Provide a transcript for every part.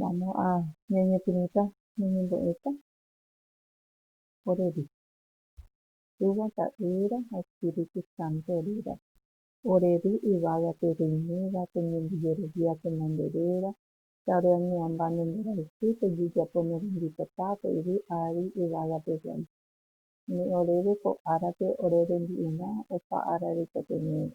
Vamos a ñañepyrũta ñañembo'éta oréve, Túva, Ta'ýra ha Espíritu Santo orérape. Ore ru yvága pe roiméva, pe ñembojerovia pe nanderéva, ta ore añe'ãmba ne mborayhu, pejejapo ne rembipota, pe yvy ári yvága pe voi. Umi oréve ko árape ore rembi'urã, opa ára reikotevẽva.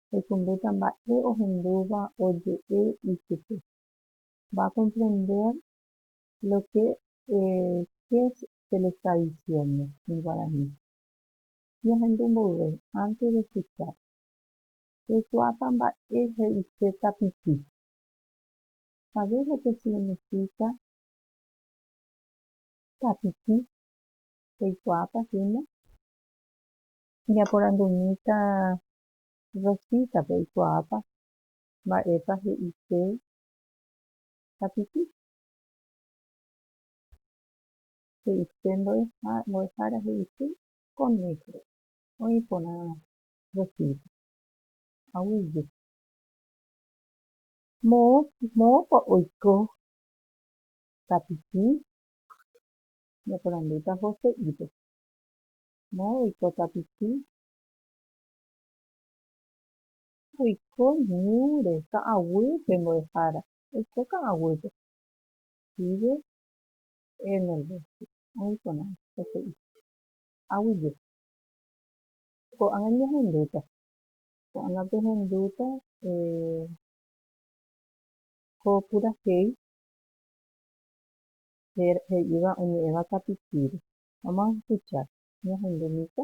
Rekondéta mba'e ohendúva oje'e ichupe. Va a comprender lo que es se le está diciendo en guaraní. Ñahendu mboyve antes de escuchar. Reikuaáta mba'e he'ise tapichi. Sabes lo que significa tapichi? Reikuaáta hína? Ñaporandumíta Rosita-pe oikuaáta mba'épa he'i che tapichi. He'i che mbo'ehára he'i che conejo. Oĩ porã Rosita. Aguije. Moõpa oiko tapichi? Ñaporandúta Joséipe. Moõ oiko tapichi? Oiko ñúre ka'aguýpe mbo'ehára. Oiko ka'aguýpe. Vive en el bosque. Oĩporã peteĩ. Aguije. Ko'ág̃a ñahendúta. Ko'ág̃a pehendúta ko purahéi he'íva oñe'ẽva tapicíre. Vamos a escuchar. Ñahendúmíta.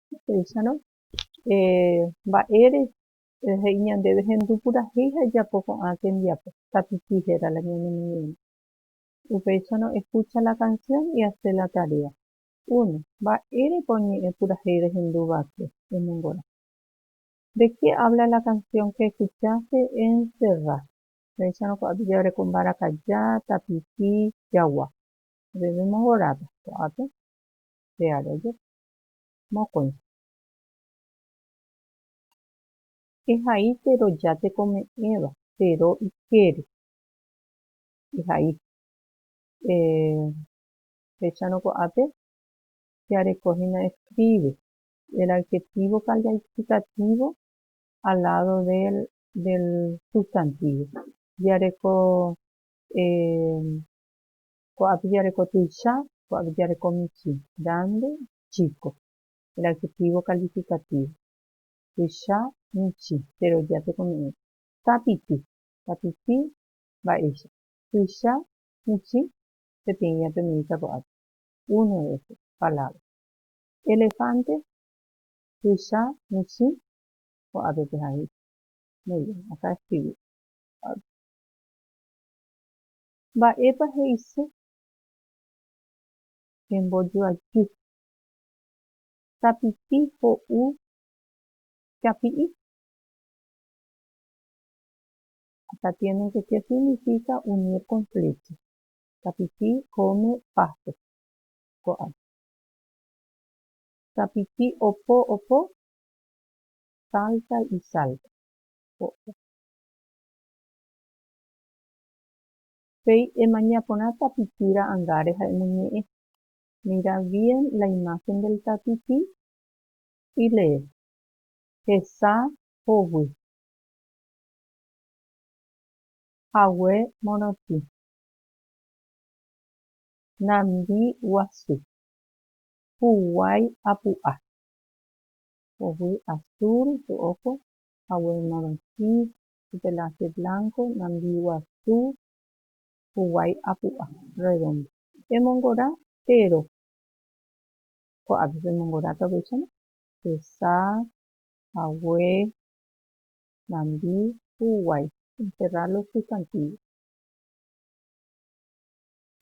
Upéicharõ, mba'ére he'i ñandéve hendu purahéi ha ejapo ko'ã tembiapo, tapichi héra la ñane ñe'ẽme. Upéicharõ, escucha la canción y hace la tarea. Uno, Mba'érepa oñe'ẽ purahéi rehendu va'ekue? Emongorã. De qué habla la canción que escuchaste? Encerrá. Upéicharõ, ko'ápe jaguereko mbarakaja, tapichi, jagua. Upépe emongorãta. Ko'ápe, che área jepi. mokõi. Ehai teroja tekome'ẽva, tero ikére. Ehai. Eh, féchano ko'ápe jeareko hína escribe, el adjetivo calificativo al lado del, del sustantivo. Jeareko, eh, Ko apicha reko tuicha, ko apicha reko michĩ, grande, chico. El adjetivo calificativo. Tuicha, michĩ, jeroja tekoñe'ẽre. Tapiti, tapiti, mba'éicha. Tuicha, michĩ, peteĩ ñatemyita ko'ápe. Uno de estos, palabra. Elefante, tuicha, michĩ, ko'ápe pe haíta. Muy bien, acá escribí. Mba'épa he'ise che mbojoajy? Tapiti ho'u chapi'i. Acá tienen que che significa unir con flecha. Tapiti come pasto. Ko'ág̃a. Tapiti opo opo salta y salta. Ko'ág̃a. Péi emaña porã tapichi ra'ãngáre ha emoñe'ẽ, Mira bien la imagen del tapichi y lee, Hesa hovy. Hague morotĩ. Nambi guasu. Huguái apu'a. Hovy azul, ro'óko. Hague morotĩ, Pelaje blanco, nambiguasu huguái apu'a, redondo. Emongora térõ. Ko'ápe pemongoráta upéicharõ, hesa, hague, nambi, huguái. Encerrar los sustantivos.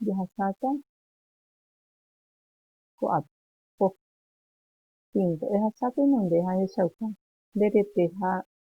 Jahasáta ko'ápe. Ko. Quinto, ehasáta inonde ha echauka nde rete ha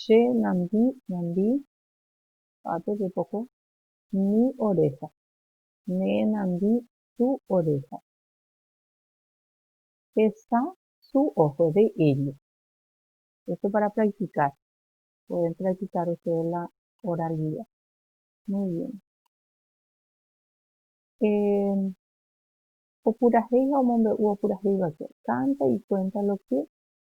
Che nandi nandi pa'ápe jepoko mi oreha, ne nandi su oreha. Pesa su ojo de ello. Esto para practicar. Pueden practicar ustedes la oralidad. Muy bien. Eh, opurahéiva omombe'u opurahéiva que canta y cuenta lo que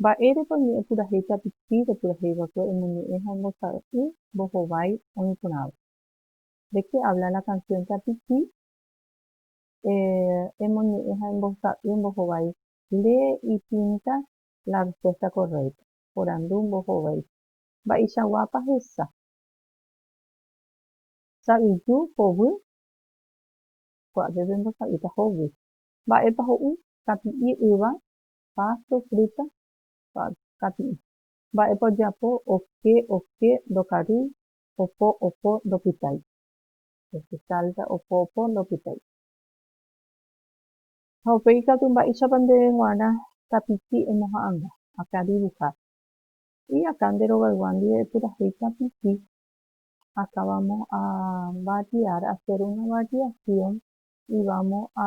Mba'érepa oñe'ẽpurahéi tapichi repuraheiva'ekue emoñe'ẽ ha ombosa'y mbohovái oĩ porãva? ¿De qué habla la canción tapichi emoñe'ẽ ha ombosa'y mbohovái? Lee y pinta la respuesta correcta, porandu mbohovái. Mba'eichaguápa hesa? Sa'yju, hovy? Ko'ápe pembosa'ýta hovy. Mba'épa ho'u? Tapi'i, yva, páso, frúta, pal, kati'ỹ. Mba'épa ojapo, oke, oke, ndokary, opo, opo, ndopytái. Este salta, opo, opo, ndopytái. Ha upéi katu mba'éichapa ndéve g̃uarã tapichi emoha'ãnga, akã dibuhar. Y akã nde rogaygua ndive epurahéi tapichi, akã vamo a variar, hacer una variación y vamo a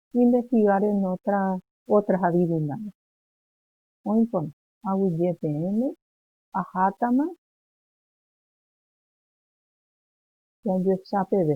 investigar en otra, otras adivinanzas. Oĩkuri, aguyje peẽme, ahátama jajuecha peve.